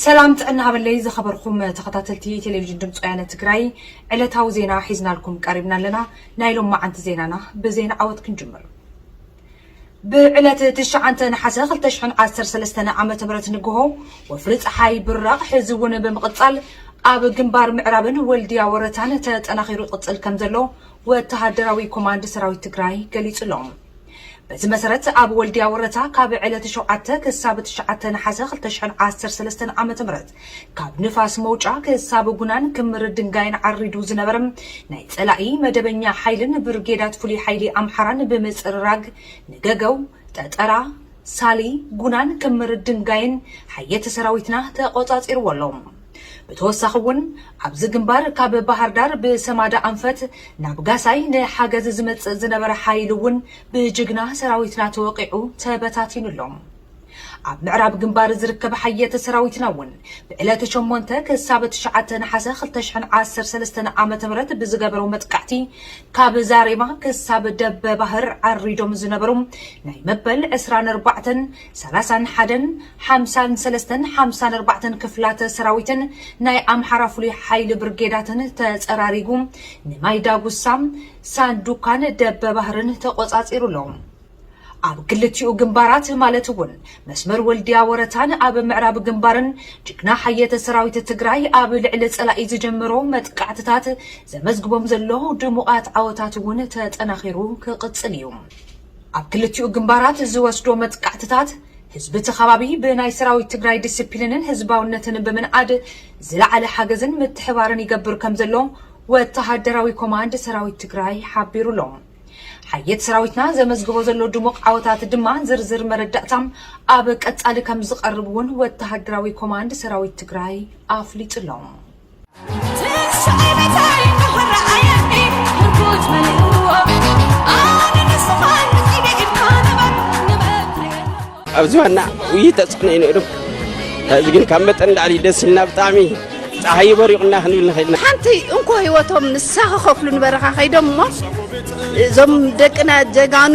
ሰላም ጥዕና ሃበለይ ዝኸበርኩም ተኸታተልቲ ቴሌቪዥን ድምፂ ወያነ ትግራይ ዕለታዊ ዜና ሒዝናልኩም ቀሪብና ኣለና ናይ ሎም መዓንቲ ዜናና ብዜና ዓወት ክንጅምር ብዕለት ትሽዓንተ ነሓሰ 213 ዓ ም ንግሆ ወፍሪ ፀሓይ ብራቕ ሕዚ እውን ብምቕፃል ኣብ ግንባር ምዕራብን ወልድያ ወረታን ተጠናኺሩ ይቕፅል ከም ዘሎ ወተሃደራዊ ኮማንድ ሰራዊት ትግራይ ገሊፁ ኣሎ በዚ መሰረት ኣብ ወልድያ ወረታ ካብ ዕለት ሸውዓተ ክሳብ ትሽዓተ ነሓሰ ክልተ ሽሕን ዓሰርተ ሰለስተን ዓመተ ምህረት ካብ ንፋስ መውጫ ክሳብ ጉናን ክምር ድንጋይን ዓሪዱ ዝነበረ ናይ ፀላኢ መደበኛ ሓይልን ብርጌዳት ፍሉይ ሓይሊ ኣምሓራን ብምፅርራግ ንገገው፣ ጠጠራ፣ ሳሊ፣ ጉናን ክምር ድንጋይን ሓየት ሰራዊትና ተቆፃፂርዎ ኣሎ። ብተወሳኺ እውን ኣብዚ ግንባር ካብ ባህርዳር ብሰማዳ ኣንፈት ናብ ጋሳይ ንሓገዝ ዝመፅእ ዝነበረ ሓይሊ እውን ብጅግና ሰራዊትና ተወቒዑ ተበታቲኑ ኣሎ። ኣብ ምዕራብ ግንባር ዝርከብ ሓየት ሰራዊትና እውን ብዕለት ሸሞንተ ክሳብ ትሽዓተ ነሓሰ ክልተ ሽሕን ዓሰርተ ሰለስተን ዓመተ ምህረት ብዝገበሮ መጥቃዕቲ ካብ ዛሬማ ክሳብ ደበ ባህር ዓሪዶም ዝነበሩ ናይ መበል ዕስራን ኣርባዕተን ሰላሳን ሓደን ሓምሳን ሰለስተን ሓምሳን ኣርባዕተን ክፍላተ ሰራዊትን ናይ ኣምሓራ ፍሉይ ሓይሊ ብርጌዳትን ተፀራሪጉ ንማይ ዳጉሳ፣ ሳንዱካን ደበባህርን ተቖፃፂሩ ኣሎ። ኣብ ክልቲኡ ግንባራት ማለት እውን መስመር ወልድያ ወረታን ኣብ ምዕራብ ግንባርን ጅግና ሓየተ ሰራዊት ትግራይ ኣብ ልዕሊ ፀላኢ ዝጀመሮ መጥቃዕትታት ዘመዝግቦም ዘሎ ድሙቓት ዓወታት እውን ተጠናኺሩ ክቕፅል እዩ። ኣብ ክልቲኡ ግንባራት ዝወስዶ መጥቃዕትታት ህዝቢ እቲ ከባቢ ብናይ ሰራዊት ትግራይ ዲሲፕሊንን ህዝባውነትን ብምንኣድ ዝለዓለ ሓገዝን ምትሕባርን ይገብር ከምዘሎ ወተሃደራዊ ኮማንድ ሰራዊት ትግራይ ሓቢሩ ኣሎ። ሓየት ሰራዊትና ዘመዝግቦ ዘሎ ድሙቕ ዓወታት ድማ ዝርዝር መረዳእታ ኣብ ቀጻሊ ከምዝቐርብ እውን ወተሃደራዊ ኮማንድ ሰራዊት ትግራይ ኣፍሊጡ ኣሎ። ኣብ ዝባና ውይ ተፅዕኖ እዩ ነይሩ እዚ ግን ካብ መጠን ላዕሊ ደስ ኢልና ብጣዕሚ ፀሓይ በሪቑና ክንብል ንኽእል ኢና ሓንቲ እንኮ ህይወቶም ንሳ ክኸፍሉ ንበረኻ ከይዶም እሞ እዞም ደቅና ጀጋኑ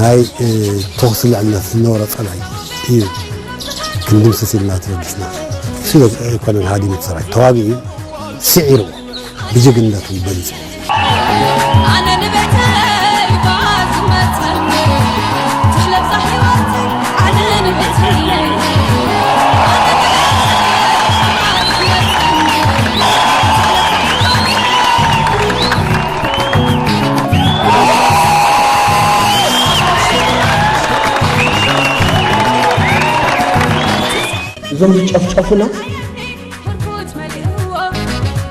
ናይ ተኹሲ ልዕልነት ዝነበሮ ፀላኢ እዩ ክንድምስስ ኢልና ተበጊስና ስለ ኮሎኔል ሃዲሙ ሰራዊት ተዋጊኡ ስዒርዎ ብጅግንነቱ በሊፁ እዞም ዝጨፍጨፉና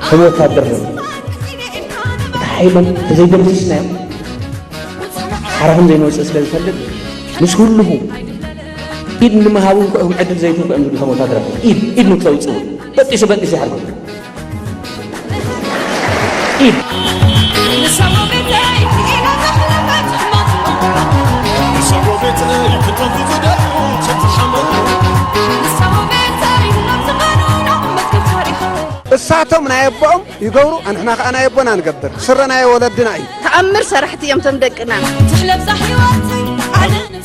ከም ወታደር ነ እቲ ሓይሎም ተዘይደምስስናዮም ሓራ ከም ዘይንወፅእ ስለ ዝፈልጥ ምስ ኩልኹ ኢድ ንምሃብ እውን ክዕድል ዘይትንኩ እዮም ዝብሉ ከም ወታደር ኢድ ኢድ ንክተውፅኡ በጢሱ በጢሱ ይሓርጎ እሳቶም ናይ ኣቦኦም ይገብሩ ኣንሕና ከዓ ናይ ኣቦና ንገብር ስረ ናይ ወለድና እዩ ተኣምር ሰራሕቲ እዮም ቶም ደቅና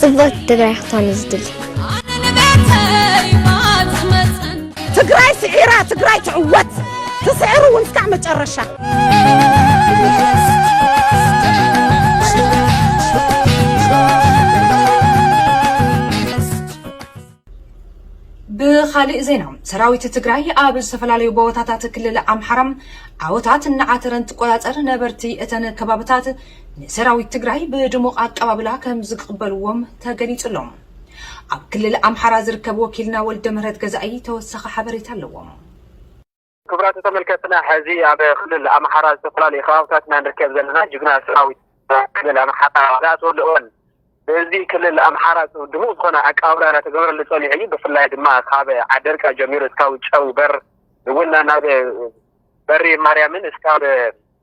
ጽብቕቲ ትግራይ ክትኾን እዩ ዝድሊ ትግራይ ስዒራ ትግራይ ትዕወት ትስዕር እውን እስካዕ መጨረሻ ብካሊእ ዜና ሰራዊት ትግራይ ኣብ ዝተፈላለዩ ቦታታት ክልል ኣምሓራ ዓወታት እናዓተረ እንትቆፃፀር ነበርቲ እተን ከባብታት ንሰራዊት ትግራይ ብድሙቕ ኣቀባብላ ከም ዝቅበልዎም ተገሊፁሎም ኣብ ክልል ኣምሓራ ዝርከብ ወኪልና ወልደምህረት ገዛኢ ተወሳኺ ሓበሬታ ኣለዎ። ክቡራት ተመልከትና ሐዚ ኣብ ክልል ኣምሓራ ዝተፈላለዩ ከባብታት ኢና ንርከብ ዘለና ጅግና ሰራዊት ክልል ኣምሓራ ዝኣተወሉ እዋን ብህዝቢ ክልል ኣምሓራ ድሙቕ ዝኾነ ኣቀባብላ እናተገበረሉ ፀኒሑ እዩ ብፍላይ ድማ ካብ ዓደርቃ ጀሚሩ እስካብ ጨው በር እውን ናብ በሪ ማርያምን እስካብ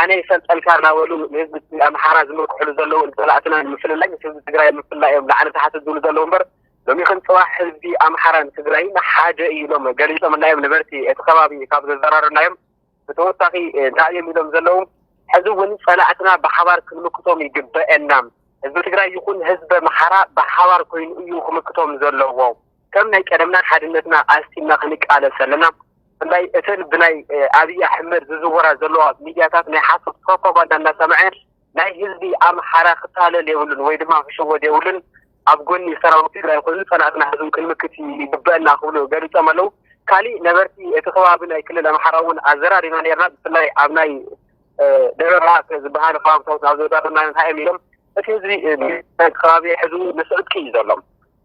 ኣነ ይፈልጠልካ እናበሉ ንህዝቢ ኣምሓራ ዝምርኩሕሉ ዘለዉ ንፀላእትና ንምፍልላይ ምስ ህዝቢ ትግራይ ኣብ ምፍልላይ እዮም ላዕሊ ታሕቲ ዝብሉ ዘለዉ እምበር ሎሚኽን ፅባሕ ህዝቢ ኣምሓራን ትግራይን ሓደ እዩ ኢሎም ገሊፆምልና እዮም ነበርቲ እቲ ከባቢ ካብ ዘዘራሩናዮም ብተወሳኺ እንታይ እዮም ኢሎም ዘለዉ ሕዚ እውን ፀላእትና ብሓባር ክንምክቶም ይግበአና ህዝቢ ትግራይ ይኹን ህዝቢ ኣምሓራ ብሓባር ኮይኑ እዩ ክምክቶም ዘለዎ ከም ናይ ቀደምና ሓድነትና ኣስጢምና ክንቃለስ ኣለና። ብፍላይ እተን ብናይ ኣብይ ኣሕመድ ዝዝወራ ዘለዋ ሚድያታት ናይ ሓሶት ፕሮፓጋንዳ እናሰምዐ ናይ ህዝቢ ኣምሓራ ክታለል የብሉን ወይ ድማ ክሽወድ የብሉን ኣብ ጎኒ ሰራዊት ትግራይ ኮይኑ ፀላእትና ህዝቡ ክንምክት ይግበአና ክብሉ ገሊፆም ኣለው። ካሊእ ነበርቲ እቲ ከባቢ ናይ ክልል ኣምሓራ እውን ኣዘራሪብና ነርና ብፍላይ ኣብ ናይ ደብረ ብርሃን ዝበሃል ከባብታት ናብ ዘዛርና እንታይ እዮም ኢሎም እቲ ህዝቢ ከባቢ ሕዚ ንስዕጥቂ እዩ ዘሎ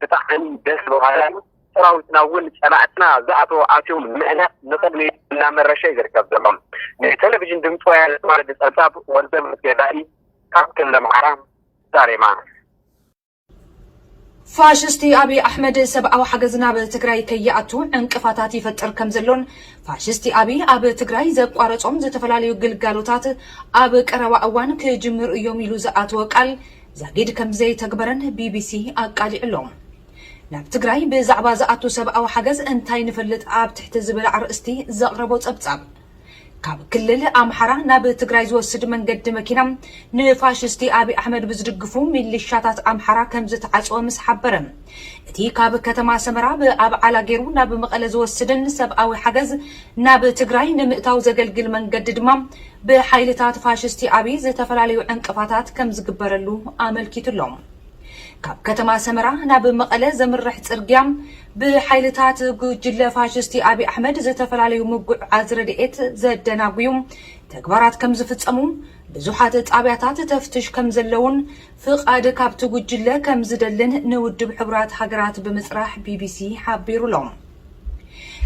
ብጣዕሚ ደስ በሃሊ እዩ። ሰራዊትና እውን ፀላእትና ዝኣተዎ ኣትዮም ንምህናፅ ንቕድሚት እናመረሸ እዩ ዝርከብ ዘሎ። ንቴሌቪዥን ድምፂ ወያነ ተዋረዲ ፀብፃብ ወልደምህረት ገዛኢ ካብ ክልል ኣምሓራ ዛሬማ። ፋሽስቲ ኣብይ ኣሕመድ ሰብኣዊ ሓገዝ ናብ ትግራይ ከይኣቱ ዕንቅፋታት ይፈጥር ከምዘሎን ፋሽስቲ ኣብይ ኣብ ትግራይ ዘቋረፆም ዝተፈላለዩ ግልጋሎታት ኣብ ቀረባ እዋን ክጅምሩ እዮም ኢሉ ዝኣተዎ ቃል ዛጊድ ከምዘይተግበረን ቢቢሲ ኣቃሊዑ'ሎ። ናብ ትግራይ ብዛዕባ ዝኣቱ ሰብኣዊ ሓገዝ እንታይ ንፈልጥ ኣብ ትሕቲ ዝብል ኣርእስቲ ዘቕረቦ ጸብጻብ፣ ካብ ክልል ኣምሓራ ናብ ትግራይ ዝወስድ መንገዲ መኪና ንፋሽስቲ ኣብይ ኣሕመድ ብዝድግፉ ሚሊሻታት ኣምሓራ ከምዝተዓጽወ ምስ ሓበረ፣ እቲ ካብ ከተማ ሰመራ ብኣብዓላ ገይሩ ናብ መቐለ ዝወስድን ሰብኣዊ ሓገዝ ናብ ትግራይ ንምእታው ዘገልግል መንገዲ ድማ ብሓይልታት ፋሽስቲ ኣብይ ዝተፈላለዩ ዕንቅፋታት ከምዝግበረሉ ኣመልኪቱ ኣሎ። ካብ ከተማ ሰመራ ናብ መቐለ ዘምርሕ ፅርግያ ብሓይልታት ጉጅለ ፋሽስቲ ኣብይ ኣሕመድ ዝተፈላለዩ ምጉዕዓዝ ረድኤት ዘደናጉዩ ተግባራት ከምዝፍፀሙ፣ ብዙሓት ጣብያታት ተፍትሽ ከምዘለዉን ፍቓድ ካብቲ ጉጅለ ከምዝደልን ንውድብ ሕቡራት ሃገራት ብምፅራሕ ቢቢሲ ሓቢሩ ኣሎ።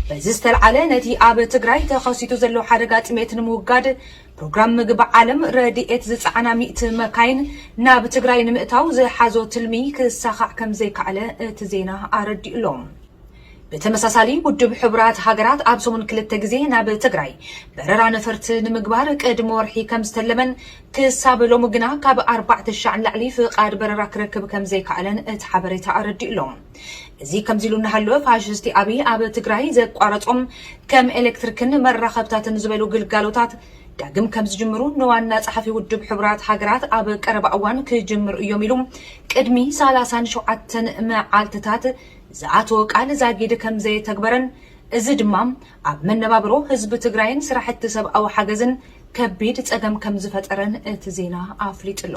በዚ ዝተልዓለ ነቲ ኣብ ትግራይ ተኸሲቱ ዘሎ ሓደጋ ጥሜት ንምውጋድ ፕሮግራም ምግቢ ዓለም ረድኤት ዝፀዓና ሚእቲ መካይን ናብ ትግራይ ንምእታው ዝሓዞ ትልሚ ክሳኻዕ ከም ዘይከኣለ እቲ ዜና ኣረዲኡ ኣሎ። ብተመሳሳሊ ውድብ ሕቡራት ሃገራት ኣብ ሰሙን ክልተ ግዜ ናብ ትግራይ በረራ ነፈርቲ ንምግባር ቅድሚ ወርሒ ከም ዝተለመን ክሳብ ሎሚ ግና ካብ ኣርባዕተ ሻዕ ንላዕሊ ፍቓድ በረራ ክረክብ ከም ዘይከኣለን እቲ ሓበሬታ ኣረዲኡ ኣሎ። እዚ ከምዚ ኢሉ እናሃለወ ፋሽስቲ ኣብይ ኣብ ትግራይ ዘቋረጾም ከም ኤሌክትሪክን መራኸብታትን ዝበሉ ግልጋሎታት ዳግም ከም ዝጅምሩ ንዋና ጸሓፊ ውድብ ሕቡራት ሃገራት ኣብ ቀረባ እዋን ክጅምሩ እዮም ኢሉ ቅድሚ ሰላሳን ሸውዓተን መዓልትታት ዝኣተወ ቃል ዛጊድ ከም ዘየተግበረን እዚ ድማ ኣብ መነባብሮ ህዝቢ ትግራይን ስራሕቲ ሰብኣዊ ሓገዝን ከቢድ ጸገም ከም ዝፈጠረን እቲ ዜና ኣፍሊጡ ኣሎ።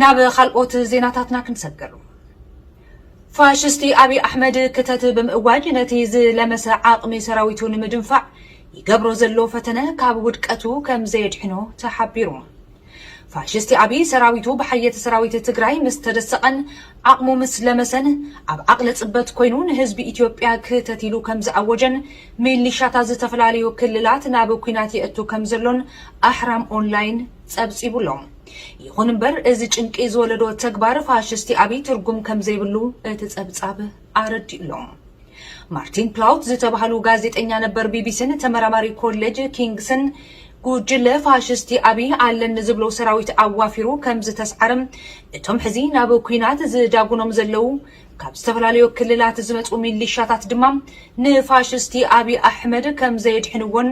ናብ ካልኦት ዜናታትና ክንሰግር። ፋሽስቲ ኣብይ ኣሕመድ ክተት ብምእዋጅ ነቲ ዝለመሰ ዓቕሚ ሰራዊቱ ንምድንፋዕ ይገብሮ ዘሎ ፈተነ ካብ ውድቀቱ ከምዘየድሕኖ ተሓቢሩ። ፋሽስቲ ኣብይ ሰራዊቱ ብሓየት ሰራዊት ትግራይ ምስ ተደሰቐን ዓቕሙ ምስ ለመሰን ኣብ ዓቕሊ ፅበት ኮይኑ ንህዝቢ ኢትዮጵያ ክተት ኢሉ ከምዝኣወጀን ሚሊሻታት ዝተፈላለዩ ክልላት ናብ ኲናት የእቱ ከምዘሎን ኣሕራም ኦንላይን ጸብጺቡሎም። ይኹን እምበር እዚ ጭንቂ ዝወለዶ ተግባር ፋሽስቲ ኣብይ ትርጉም ከምዘይብሉ እቲ ጸብጻብ ኣረዲኡ'ሎ። ማርቲን ፕላውት ዝተባህሉ ጋዜጠኛ ነበር ቢቢሲን ተመራማሪ ኮሌጅ ኪንግስን ጉጅለ ፋሽስቲ ኣብይ ኣለኒ ዝብሎ ሰራዊት ኣዋፊሩ ከምዝተስዓረ እቶም ሕዚ ናብ ኲናት ዝዳጉኖም ዘለው ካብ ዝተፈላለዩ ክልላት ዝመጹ ሚሊሻታት ድማ ንፋሽስቲ ኣብይ ኣሕመድ ከምዘየድሕንዎን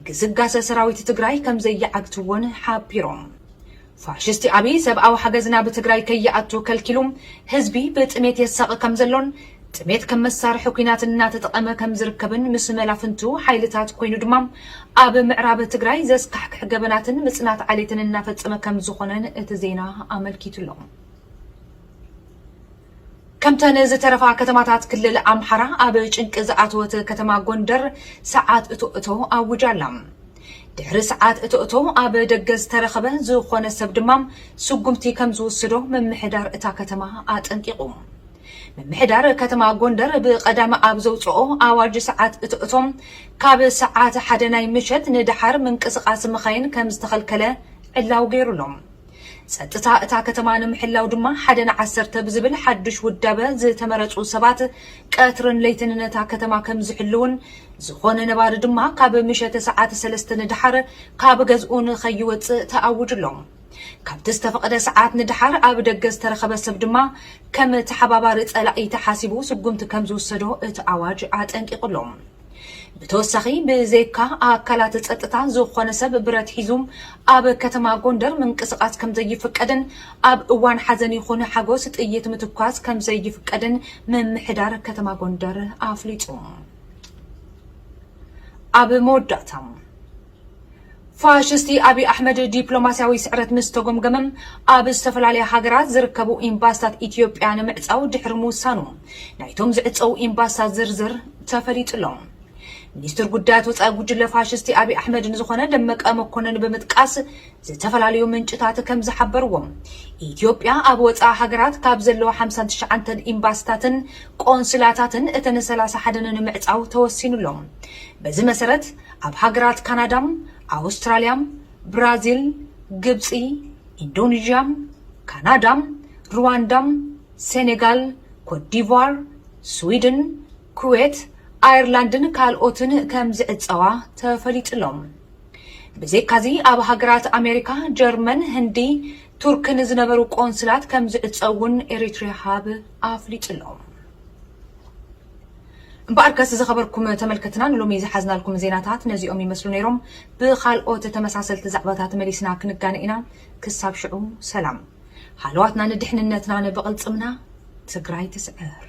ግስጋሰ ሰራዊት ትግራይ ከምዘይዓግትዎን ሓቢሮም። ፋሽስቲ ኣብይ ሰብኣዊ ሓገዝ ናብ ትግራይ ከይኣቱ ከልኪሉ ህዝቢ ብጥሜት የሳቒ ከምዘሎን ጥሜት ከም መሳርሒ ኲናት እናተጠቐመ ከምዝርከብን ምስ መላፍንቱ ሓይልታት ኮይኑ ድማ ኣብ ምዕራብ ትግራይ ዘስካሕክሕ ገበናትን ምፅናት ዓሌትን እናፈፀመ ከምዝኾነን እቲ ዜና ኣመልኪቱ'ሎ። ከምተን ዝተረፋ ከተማታት ክልል ኣምሓራ ኣብ ጭንቂ ዝኣተወት ከተማ ጎንደር ሰዓት እቶ እቶ ኣዊጃ ኣላ። ድሕሪ ሰዓት እቶ እቶ ኣብ ደገ ዝተረኸበ ዝኾነ ሰብ ድማ ስጉምቲ ከምዝውስዶ ምምሕዳር እታ ከተማ ኣጠንቂቑ። ምምሕዳር ከተማ ጎንደር ብቐዳም ኣብ ዘውፅኦ ኣዋጅ ሰዓት እቶ እቶ ካብ ሰዓት ሓደ ናይ ምሸት ንደሓር ምንቅስቓስ መኻይን ከምዝተኸልከለ ዕላዊ ገይሩ ኣሎ። ጸጥታ እታ ከተማ ንምሕላው ድማ ሓደ ንዓሰርተ ብዝብል ሓዱሽ ውዳበ ዝተመረጹ ሰባት ቀትርን ለይትን ነታ ከተማ ከም ዝሕልዉን ዝኾነ ነባሪ ድማ ካብ ምሸተ ሰዓት ሰለስተ ንደሓር ካብ ገዝኡ ንኸይወጽእ ተኣውጁ ኣሎ። ካብቲ ዝተፈቐደ ሰዓት ንደሓር ኣብ ደገ ዝተረኸበ ሰብ ድማ ከም ተሓባባሪ ጸላኢ ተሓሲቡ ስጉምቲ ከም ዝውሰዶ እቲ ኣዋጅ ኣጠንቂቑ ኣሎ። ብተወሳኺ ብዘይካ ኣካላት ጸጥታ ዝኾነ ሰብ ብረት ሒዙ ኣብ ከተማ ጎንደር ምንቅስቓስ ከምዘይፍቀድን ኣብ እዋን ሓዘን ይኹን ሓጎስ ጥይት ምትኳስ ከምዘይፍቀድን ምምሕዳር ከተማ ጎንደር ኣፍሊጡ። ኣብ መወዳእታ ፋሽስቲ ኣብይ ኣሕመድ ዲፕሎማስያዊ ስዕረት ምስ ተጎምገመ ኣብ ዝተፈላለያ ሃገራት ዝርከቡ ኢምባስታት ኢትዮጵያ ንምዕፃው ድሕሪ ምውሳኑ ናይቶም ዝዕፀዉ ኢምባስታት ዝርዝር ተፈሊጡ ኣሎ። ሚኒስትር ጉዳያት ወፃኢ ጉጅለ ፋሽስቲ ኣብይ ኣሕመድ ንዝኾነ ደመቀ መኮነን ብምጥቃስ ዝተፈላለዩ ምንጭታት ከም ዝሓበርዎ ኢትዮጵያ ኣብ ወፃኢ ሃገራት ካብ ዘለዋ ሓምሳን ትሽዓንተን ኢምባስታትን ቆንስላታትን እተን ሰላሳ ሓደን ንምዕፃው ተወሲኑ ኣሎ። በዚ መሰረት ኣብ ሃገራት ካናዳ፣ ኣውስትራልያ፣ ብራዚል፣ ግብጺ፣ ኢንዶኒዥያ፣ ካናዳ፣ ሩዋንዳ፣ ሴኔጋል፣ ኮትዲቫር፣ ስዊድን፣ ኩዌት፣ ኣየርላንድን ካልኦትን ከም ዝዕጸዋ ተፈሊጡ'ሎ። ብዘይካ'ዚ ኣብ ሃገራት ኣሜሪካ፣ ጀርመን፣ ህንዲ፣ ቱርክን ዝነበሩ ቆንስላት ከም ዝዕጸው እውን ኤሪትሪያ ሃብ ኣፍሊጡ'ሎ። እምበኣርከስ ዝኸበርኩም ተመልከትና ንሎሚ ዝሓዝናልኩም ዜናታት ነዚኦም ይመስሉ ነይሮም። ብኻልኦት ተመሳሰልቲ ዛዕባታት መሊስና ክንጋነ ኢና። ክሳብ ሽዑ ሰላም። ሃለዋትና ንድሕንነትና ንብቕልፅምና ትግራይ ትስዕር!